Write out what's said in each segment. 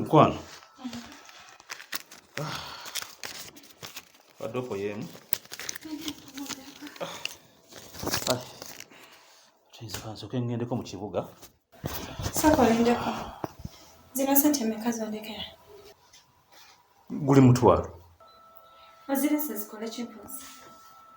mukwano badoko ah. yemu nsoke ngendeko mu kibuga sakolindeko zino sente meka zolekera guli mutwalo ozirese zikole kipuzi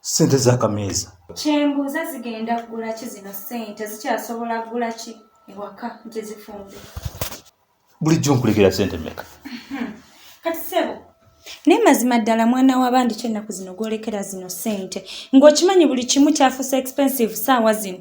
sente zakameeza kyembuuza zigenda kugula ki zino sente zikyasobola kugula ki ewaka nti zifumbe bulijjo nkulekera sente meka hmm. kati sebo naye mazima ddala mwana w'abandi kyo ennaku zino gwolekera zino sente ng'okimanyi buli kimu kyafuusa expensive saawa zino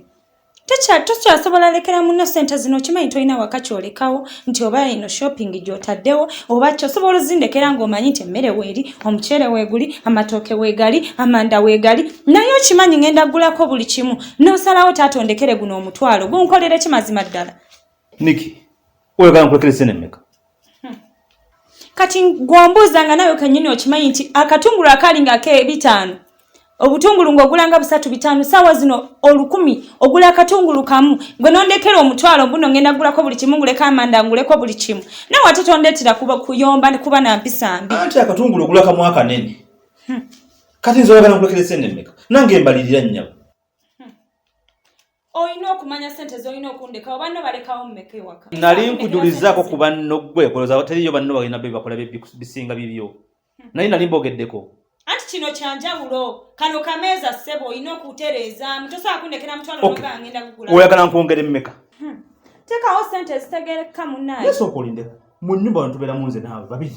tokyasobola alekera muno sente zino okimanyi tolina waka kyolekawo nti oba eno shopping gyotaddewo oba ki osobola ozindekera ngaomanyi nti emmere weeri omuceere weeguli amatooke weegali amanda weegali naye okimanyi ngenda ggulako buli kimu nosalawo taata ondekere guno omutwalo gunkolere ki mazima ddala Niki, wewe kana kulekele sene meka. Hmm. Kati ngwombuza nga nawe kanyini okimanyi nti akatungulu akali nga ke bitano. Obutungulu ngogulanga busatu bitano sawa zino olukumi ogula akatungulu kamu gwe nondekera omutwalo mbuno ngenda gula ko buli kimu ngule ka manda ngule ko buli kimu. Na watu tondetira kuba kuyomba ne kuba na mpisa mbi. Ati akatungulu ogula kamu akanene. Hmm. Kati nzoya kana kulekele sene meka. Nange mbalirira nyabo. olina okumanya sente zolina okundekawo banno balekawo mumeka ewaka nali nkujulizaako ku banno gwe kolozawo teriyo banno balina be bakola bisinga bibyo hmm. naye nali mbogeddeko anti kino kyanjawulo kano kameeza ssebo olina okutereezaamu tosobola kundekera mutwalo noga ngenda kugula oyagala nkwongere mumeka hmm. tekawo sente ezitegereka munaye esooka olindeko mu nnyumba wano tubeeramu nze naawe babiri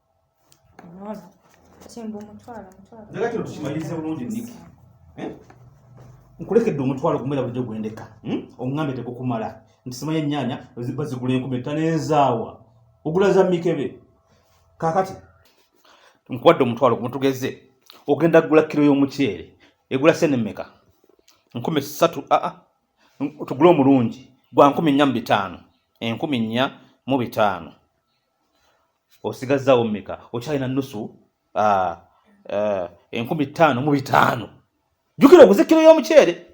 naga kino tukimalirize bulungi niki eh? nkulekedde omutwalo kumera bujo gwendeka hmm? oŋambe tekukumala nti simanyi ennyanya bazigula enkumi ettano ezaawa ogula za mikebe kakati nkuwadde omutwalo kumutugeze ogenda kugula kiro y'omuceere egula sente meka nkumi satu aa ah, ah. tugule omulungi gwa nkumi nnya mu bitaano enkumi nnya mu bitaano osigazzaawo mumeka okyalina nusu ah, eh, enkumi ttaano mu bitaano jukira oguze kiro y'omuceere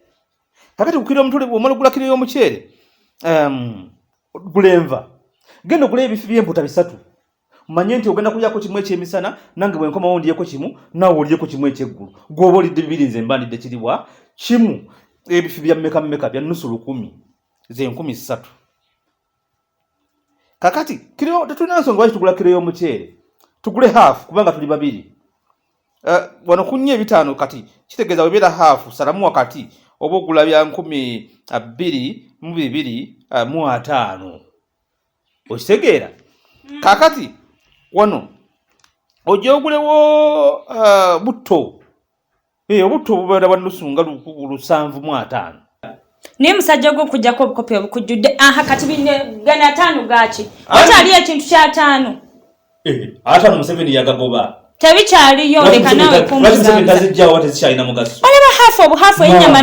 kakati kukira omutuli omala ogula kiro y'omuceere gula enva genda ogula ebifi by'emputa bisatu manye nti ogenda kulyako kimu ekyemisana nange bwenkomawo ndiyeko kimu nawe oliyeko kimu ekyeggulu gwoba olidde bibiri nze mba ndidde kiribwa kimu ebifi bya mmeka mmeka bya nusu lukumi ze nkumi ssatu kakati kiriwo tetulina nsonga lwaki tugula kiro y'omuceere tugule haafu kubanga tuli babiri eh, wano uh, kunya ebitaano kati kitegeeza webeera haafu salamu wakati oba ogula bya nkumi ah, bbiri mu bibiri ah, mu ataano okitegeera mm. kakati wano ojogulewo uh, butto Eh, obutto obubeera bwa nusu nga lusanvu mu ataano naye musajja gwe okujjako obukopi obukujjudde aha kati bine gana ataano gaaki okyaliyo ekintu kyataano eh, ataano museveni yagagoba tebikyaliyo leka nawe kumuzanzazijjawatezikyalina mugaso olaba hafu obuhafu enyama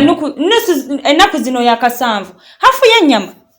enaku zino yakasanvu hafu yenyama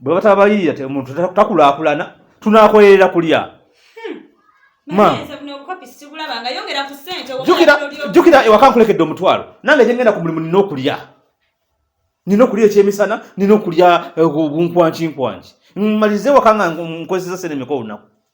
bwe batabayiiya omuntu takulaakulana tunakolerera kulya hmm. jukira ewaka nkulekedde omutwalo nange gyengenda ku mulimu nina okulya nina okulya ekyemisana nina okulya eh, bunkwankinkwanki mmalize ewaka nga nkozesa sente meka olunaku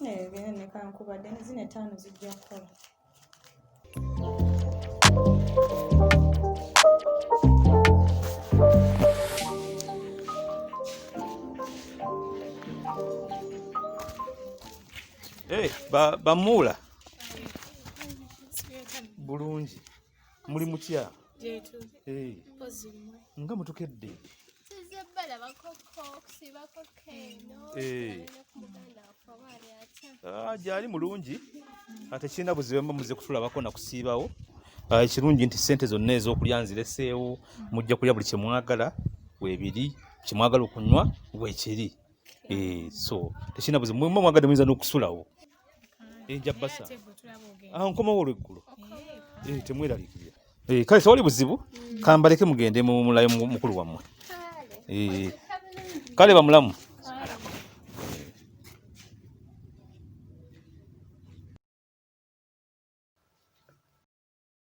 ebyo eh, nekankubadde nezino etaano zijja kukola Hey, eh, ba, bamuula bulungi muli mutya eh. nga mutukedde eh. ah, gyali mulungi ate kirina buzibe muze kutulabako nakusiibawo ah, ekirungi nti sente zonna ezokulya nzireseewo mujja kulya buli kyemwagala webiri kyemwagala okunywa wekiri eh, so tekirina buzibe mwemwe mwagadde muyinza nokusulawo enjabbasa ah, nkomawo olweggulo eh, eh, temweraliikirira eh, kale tewali buzibu mm. kambaleke mugende mumulayo mukulu wammwe kale bamulamu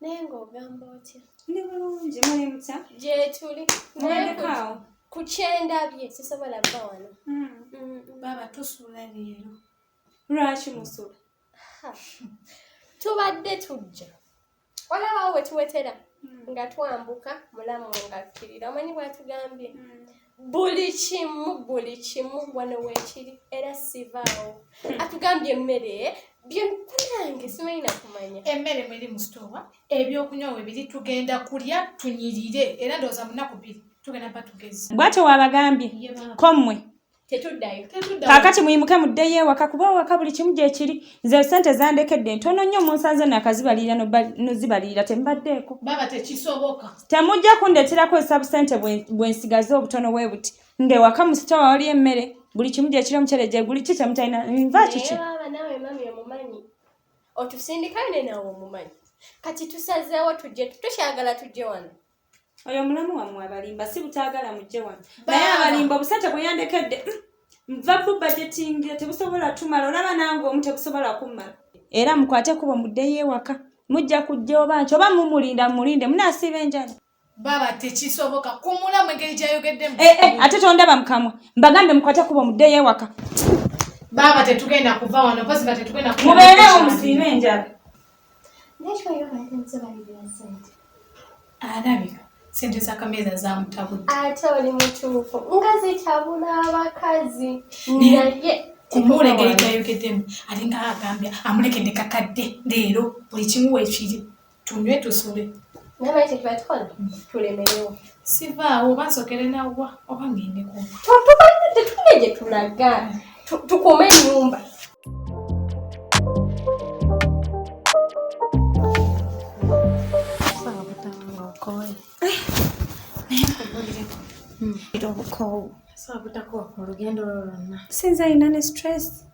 naye ng'ogamba otya ndi bulungi muli mutya gyetuli mwendekaawo ku kyendabye sisobola bba wano hmm. mm, mm. baaba tusuula leero lwaki musula tubadde tujja olabawo we tuwetera hmm. nga twambuka mulamu ngakkirira omanyi bwatugambye hmm. buli kimu buli kimu wano wekiri era sivaawo hmm. atugambye emmere byekunange simanyi nakumanya emmere mweri mu sitowa ebyokunywa webiri tugenda kulya tunyirire era ndowooza munaku biri tugenda ba tugezi bwatyo wabagambye ko mmwe kakati muyimuke muddeyo ewaka kuba ewaka buli kimu gyekiri nze sente zandekedde ntono nnyo munsanze nakazibalirira nozibalirira tembaddeeko baba tekisoboka temujja kundeterako esabu sente bwensigaze obutono bwe buti ngewaka mu sitowa wali emmere buli kimu gyekiri omukyere gyeguli ki kyemutalina nva kiki otusindikane nawe omumanyi kati tusazeewo tujje tukyagala tujje wano oyo mulamu wammwe abalimba si butaagala mujje wano naye abalimba obusente bwe yandekedde mm, nva bu budgetingira tebusobola tumala olaba nange omu tebusobola kummala era mukwate kuba muddeyo ewaka mujja kujja oba nti oba mumulinda mumulinde munaasiiba enjala baba tekisoboka kumulamu engeri gyayogeddemu eh, eh, ate tondaba mukamwa mbagambe mukwate kuba muddeyo ewaka baba tetugenda kuva wano kozi nga tetugenda mubeerewo musiiba enjala alabika sente za kameeza zamutabudde ate oli mutuufu nga zitabula abakazi naye kumulegere gayogedemu ate nga agambye amulekedde kakadde leero buli kimu wekiri tunywe tusule tulemerewo sivaawo oba nsokere nawa oba ngendeku tetuine gyetulaga tukume enyumba sinza alina ne stress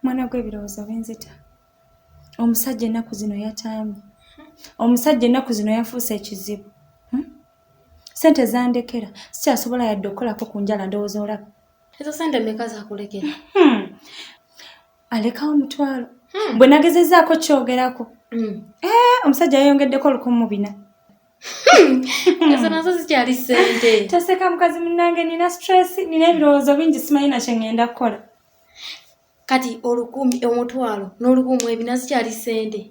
mwana gwe ebirowoozo benzita omusajja ennaku zino yataamye omusajja ennaku zino yafuuse ekizibu hmm? sente zandekera sikyasobola yadde okukolako ku njala ndowooza olaba Hizo sente meka za kulekera? Hmm. Alekawo mutwalo. Hmm. Bwe nagezezaako kyogerako. Hmm. Eh, omusajja yayongeddeko olukumu bina. Hmm. Ezo nazo zikyali sente. Taseka mukazi munange nina stress, nina ebirowoozo bingi simanyi na kye ngenda kukola. kati olukumi omutwalo n'olukumi mu ebina zikyali ssente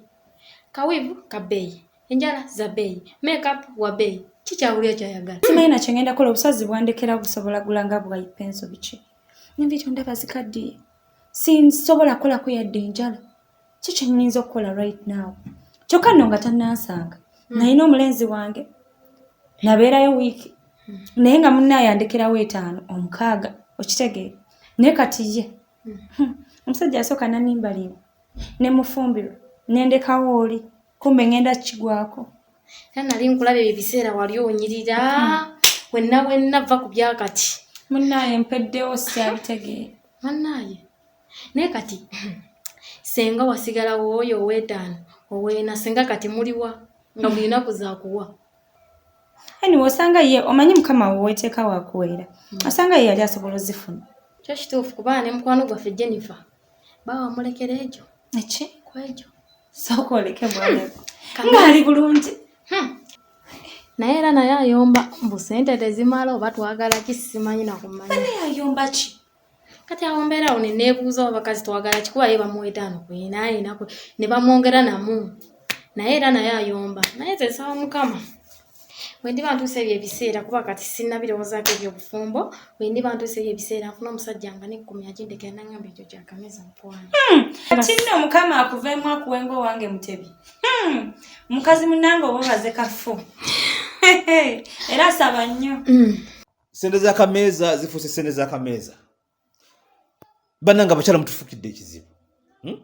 kawivu kabeeyi enjala za beeyi makeup wa beeyi kikyawulira kyayagala simanyi nakyo ngenda kola obusazi bwandekera busobola gula nga bwayipenso biki envito ndaba zikaddiye sinsobola kolako yadde enjala ki kye nnyinza okukola right now kyokka nno nga tannansanga hmm. nalina omulenzi wange nabeerayo wiiki hmm. naye nga munna yandekerawo etaano omukaaga okitegeera naye kati ye hmm. omusajja yasooka nanimba lino ne mufumbirwa nendekawo oli kumbe ngenda kukigwako era nali nkulaba ebyo ebiseera wali onyirira wenna wenna va ku byakati munnaye mpeddewo sikyabitegeera munnaye naye kati senga wasigala wooyo owetaano oweena senga kati muliwa nga buli naku zakuwa ani wosanga ye omanyi mukama wo weteeka wakuweera hmm. osanga ye yali asobola ozifuna kyo kituufu kubaa ne mukwano gwaffe jennifer bawa mulekera egyo eki kwegyo sooka oleke mwana ngaali bulungi hmm. naye era naye ayomba mbu sente tezimala oba twagala ki simanyi nakumanya naye ayomba ki kati awo mbeera awo neneebuuza oba bakazi twagala kikuba ye bamuwa etaano kwena ayina ne bamwongera namu naye era naye ayomba naye zesaba mukama wendi bantuusa ebyo ebiseera kuba kati sinabirowoozaako ebyobufumbo wendi bantuusa ebyo ebiseera nfuna omusajja nga nekkumi agindekera nangamba ekyo kyakameza mukwano hmm. kati nno mukama akuveemu akuwenga owange mutebi hmm. mukazi munange oba obaze kafu era saba nnyo hmm. sente za kameeza zifuuse sente za kameeza bannange abakyala mutufukidde ekizibu hmm?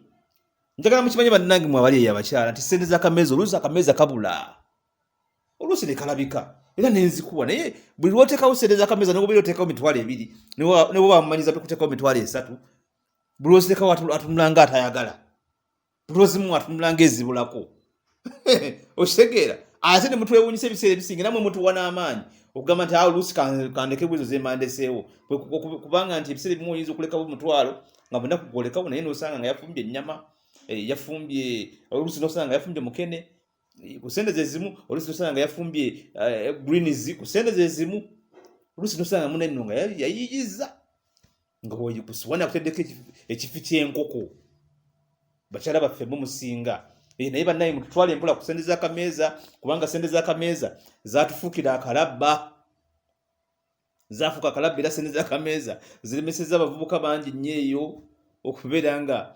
njagala mukimanye bannange mwe abali eyo abakyala nti sente za kameeza oluusi akameeza kabula oluusi ne kalabika era nenzikuwa naye buli lwotekawo sente za kameeza nobera otekawo mitwalo ebiri newobamumanyizakutekawo mitwalo esatu buli lwozitekawo atunulanga atayagala tulozimu atunulanga ezibulako okitegeera ate ne mutwewunyisa ebiseera ebisinga namwe mutuwa n'amaanyi okugamba nti awo luusi kandekebwa ezo zemandeseewo kubanga nti ebiseera ebimu oyinza okulekawo omutwalo nga munaku gwolekawo naye nosanga nga yafumbye ennyama eh, yafumbye oluusi nosanga nga yafumbye mukene eh, ku sente zezimu oluusi nosanga nga yafumbye eh, greens ku sente zezimu oluusi nosanga munenno nga yayiyiza nga bwegikusa wani akuteddeko ekifi kyenkoko bakyala baffe mwe musinga eh, naye banaye mututwala empola ku sente zakameeza kubanga sente zakameeza zatufuukira akalabba zafuuka akalabba era sente zakameeza ziremeseza abavubuka bangi nnyo eyo okubeera nga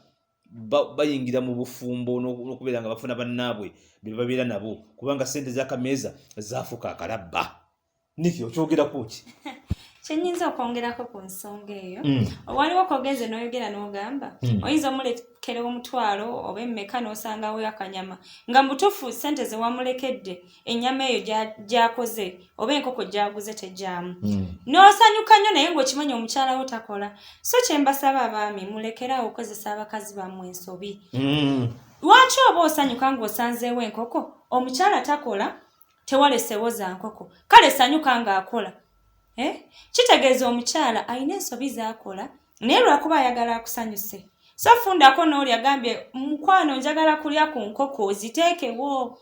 bayingira mu bufumbo n'okubeera nga bafuna bannaabwe bebabeera nabo kubanga sente zakameeza zafuuka akalabba Niki okyogera kuki? Kyenyinza okwongerako ku nsonga eyo mm. waliwo kogenze noyogera nogamba mm. oyinza omulekera omutwalo oba emmeka nosangawo akanyama nga mubutuufu sente zewamulekedde enyama eyo gyakoze oba enkoko gyaguze tegyamu mm. nosanyuka nyo naye ngaokimanya omukyala wo takola so kyembasaba abaami mulekerawo okozesa abakazi bamwe ensobi lwaki oba osanyuka ngaosanzeewo enkoko omukyala takola tewalesewo za nkoko kale sanyuka ng'akola eh? kitegeeza omukyala alina ensobi z'akola naye lwakuba ayagala akusanyuse so fundako n'oli agambye mukwano njagala kulya ku nkoko oziteekewo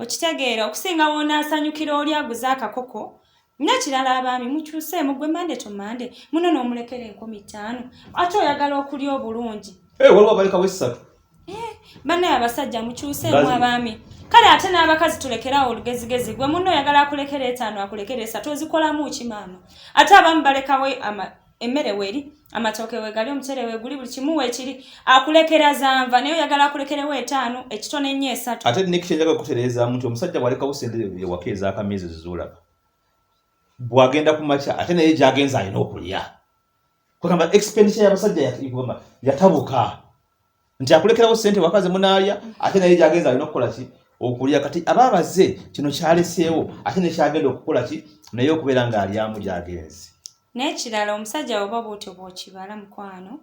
okitegeera okusinga woonaasanyukira oli aguze akakoko nekirala abaami mukyuseemu gwe mande to mande muno n'omulekera enkumi ttaano ate oyagala okulya obulungi eh, waliwo abalekawo essatu eh, banaye abasajja mukyuseemu abaami kale ate n'abakazi tulekerawo olugezigezi gwe muno oyagala akulekera etaano akulekera esatu ozikolamu ki maama ate abamu balekawo emmere weeri amatooke wegali omucere weguli buli kimu wekiri akulekera zanva naye oyagala akulekerewo etaano ekitone ennyo esatu ate nekitenjaga kutereezaamu nti omusajja bwalekawo sente ewaka ezakamiezi zizuulaba bwagenda ku makya ate naye gyagenza alina okulya kugamba expenditure yabasajja yatabuka nti akulekerawo sente wakaze munaalya ate naye gyagenza alina okukola ki okulya kati aba abaze kino kyaleseewo ate nekyagenda okukola ki naye okubeera ng'alyamu gyagenzi n'ekirala omusajja oba bwotyo bwokibala mukwano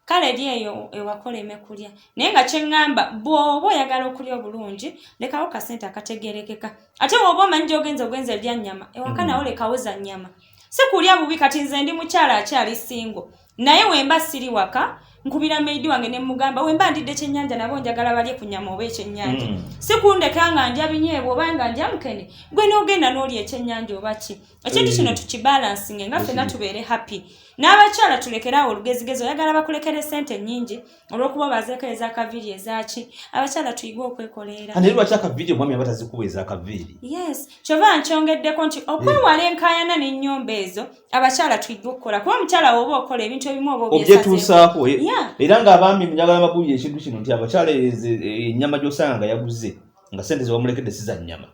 kale eri eyo ewakola emekulya naye nga kyeŋŋamba bw'oba oyagala okulya obulungi lekawo kasente akategerekeka ate woba omanyi gyogenza ogenza erya nnyama ewaka mm. nawo lekawo za nnyama si kulya bubi kati nze ndi mukyala akyali singo naye wemba siri waka nkubira maidi wange ne mugamba wemba ndidde kyenyanja nabo njagala balye ku nyama oba ekyenyanja mm. sikundeka nga ndya binyeebwa oba nga ndya mukene gwe n'ogenda n'oli ekyenyanja oba ki ekintu kino eh. tukibalansinge nga fena tubeere happy n'abakyala tulekerawo olugezigezi oyagala bakulekere sente nyingi olwokuba bazeeko ezakaviiri ezaki abakyala tuyige okwekoleera naye lwaki akaviiri omwami aba tazikuwa ezakaviiri yes kyova nkyongeddeko nti okwewala enkayana n'ennyumba ezo abakyala tuyige okukola kuba omukyala woba okola ebintu ebimu oba obyetuusaako eh, era ng'abaami njagala babuulire ekintu kino nti abakyala ennyama gyosanga nga yaguze nga sente zewamulekedde siza nnyama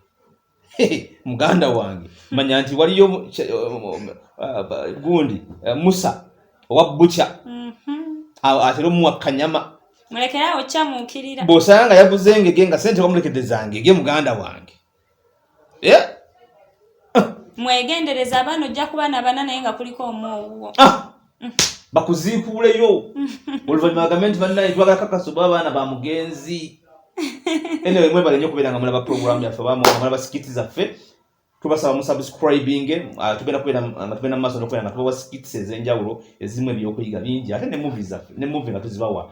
muganda wange manya nti waliyo gundi eh, musa owa buca mhm. atera omuwa kanyama mulekerawo kyamuukirira bwosanga nga yaguze engege nga sente wamulekedde zangege muganda wange eh? mwegendereza abaana ojja kuba nabana naye nga kuliko omu owuwo ah! bakuziikuuleyo oluvannyuma bagambe nti bannaye twagala kakasa oba abaana ba mugenzi enewe mwebale nyo okubeera nga mulaba puroguramu yaffe oba mulaba sikiti zaffe tubasaba musubscribinge ah, tugenda kubeera nga tugenda mu maaso nokubeera nga tubawa sikiti ez'enjawulo ezirimu ebyokuyiga bingi ate ne muvi zaffe ne muvi nga tuzibawa